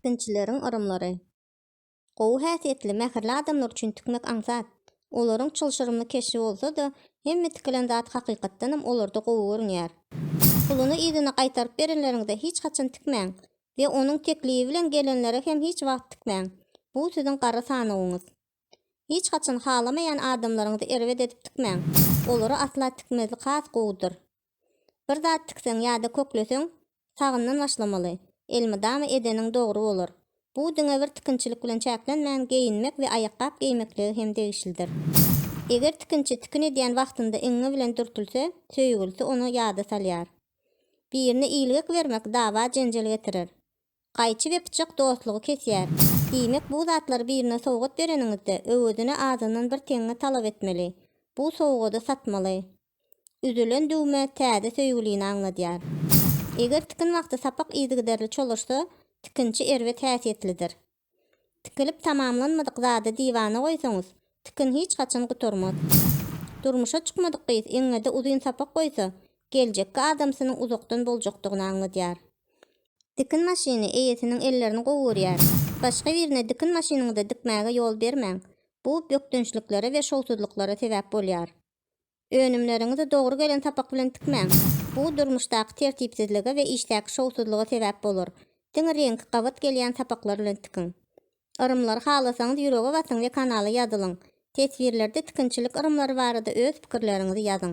Sinçileriň yrymlary. Gowy häsiýetli, mähirli adamlar üçin tikmek aňsat. Olaryň çylşyrymly keşbi bolsa-da, hemme tikilen zat hakykatdanam olarda gowy görünýär. Puluny yzyna gaýtaryp berenleriňde hiç haçan tikmäň we onuň teklibi bilen gelenlere hem hiç wagt tikmäň. Bu siziň gara sanawyňyz. Hiç haçan halamaýan adamlaryňyzy erbet edip tikmäň. Olara asla tikmezlik has gowudyr. Bir zat tikseň ýa-da kökleseň, sagyndan başlamaly. Elmydama edeniň dogry bolar. Bu diňe bir tikinçilik bilen çäklenmän, geýinmek we aýakgap geýmeklige hem degişlidir. Eger tikinçi tikin edýän wagtynda iňňe bilen dürtülse, söýgülisi ony ýada salýar. Birine ilgek bermek dawa-jenjel getirer. Gaýçy we pyçak dostlugy kesýär. Diýmek bu zatlary birine sowgat bereniňizde öwezine azyndan bir teňňe talap etmeli. Bu sowgady satmaly. Üzülen düwme täze söýgülini aňladýar. Eger tikin wagty sapak yzygiderli çolaşsa, tikinçi erbet häsiýetlidir. Tikilip tamamlanmadyk zady diwana goýsaňyz, tikin hiç haçan gutarmaz. Durmuşa çykmadyk gyz eňňede uzyn sapak goýsa, geljekki adamsynyň uzakdan boljakdygyny aňladýar. Dikin maşyny eýesiniň ellerini gowy görýär. Başga birine dikin maşynyňyzy dikmäge ýol bermäň. Bu bökdençliklere we şowsuzlyklara sebäp bolýar. Önümleriňizi dogry gelen sapak bilen tikmäň. Bu durmuşdaky tertipsizlige we işdäki şowsuzlyga sebäp bolar. Diňe reňki gabat gelýän sapaklar bilen tikiň. Yrymlary halasaňyz ýürege basyň we kanala ýazylyň. Teswirlerde tikinçilik yrymlary barada öz pikirleriňizi ýazyň.